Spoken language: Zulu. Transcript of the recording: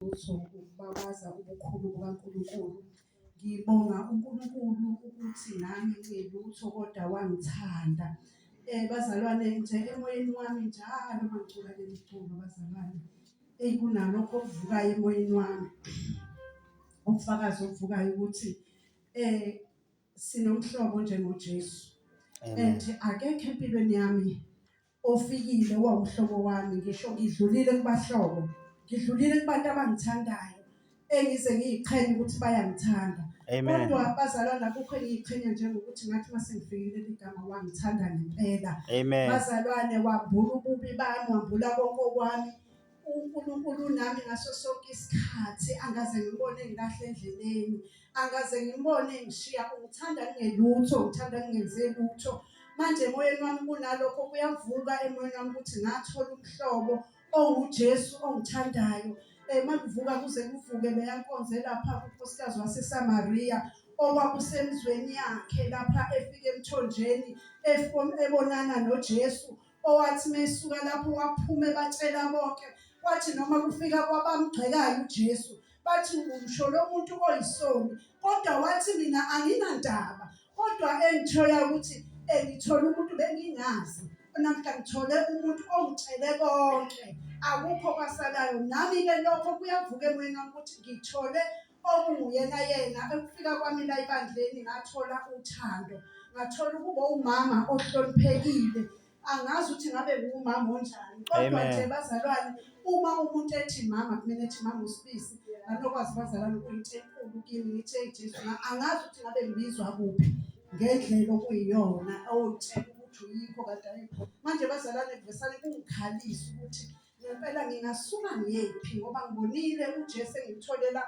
lutho ukubabaza ubukhulu bukaNkulunkulu. Ngibonga uNkulunkulu ukuthi nami ngilutho kodwa wangithanda. Eh bazalwane nje emoyeni wami njalo mangicula le mculo bazalwane. Eyi kunalokho okuvukayo emoyeni wami. Ubufakazi obuvukayo ukuthi eh sinomhlobo njengoJesu. And akekho empilweni yami ofikile wawuhlobo wami ngisho ngidlulile kubahlobo ngidlulile kubantu abangithandayo engize ngiyiqhenye ukuthi bayangithanda Amen. kodwa bazalwana akukho engiyiqhenya njengokuthi ngathi uma sengifikile ligama wangithanda ngempela Amen. bazalwane wambula ububi bami wambula konke okwami uNkulunkulu unami ngaso sonke isikhathi angaze ngibone ngikahle endleleni angaze ngibone ngishiya ungithanda ngingelutho ngithanda ngingenze lutho manje emoyeni wami kunalokho kuyavuka emoyeni wami ukuthi ngathola umhlobo onguJesu ongithandayo eh makuvuka kuze kuvuke leyankonze lapha unkosikazi waseSamaria okwakusemzweni yakhe lapha efike emthonjeni ebonana noJesu owathi mesuka lapho waphume batshela bonke kwathi noma kufika kwabamgxekayo uJesu bathi umsho lo muntu oyisoni kodwa wathi mina anginandaba kodwa engithola ukuthi engithola umuntu bengingazi namhla ngithole umuntu ongitshele konke akukho kwasalayo nami ke lokho kuyavuka emoyeni wami ukuthi ngithole okunguyena yena ekufika kwami la ebandleni ngathola uthando ngathola ukuba umama ohloniphekile angazi ukuthi ngabe ngumama onjani kodwa nje bazalwane uma umuntu ethi mama kumele ethi mama usibisi anokwazi bazalwane ukuyinto enkulu kimi ngithe jesu angazi ukuthi ngabe ngibizwa kuphi ngendlela okuyiyona owutshela ukuthi uyikho kade ayikho manje bazalwane kuvesane kungikhalisa ukuthi ngempela ngingasuka ngephi ngoba ngibonile ujesu engimtholela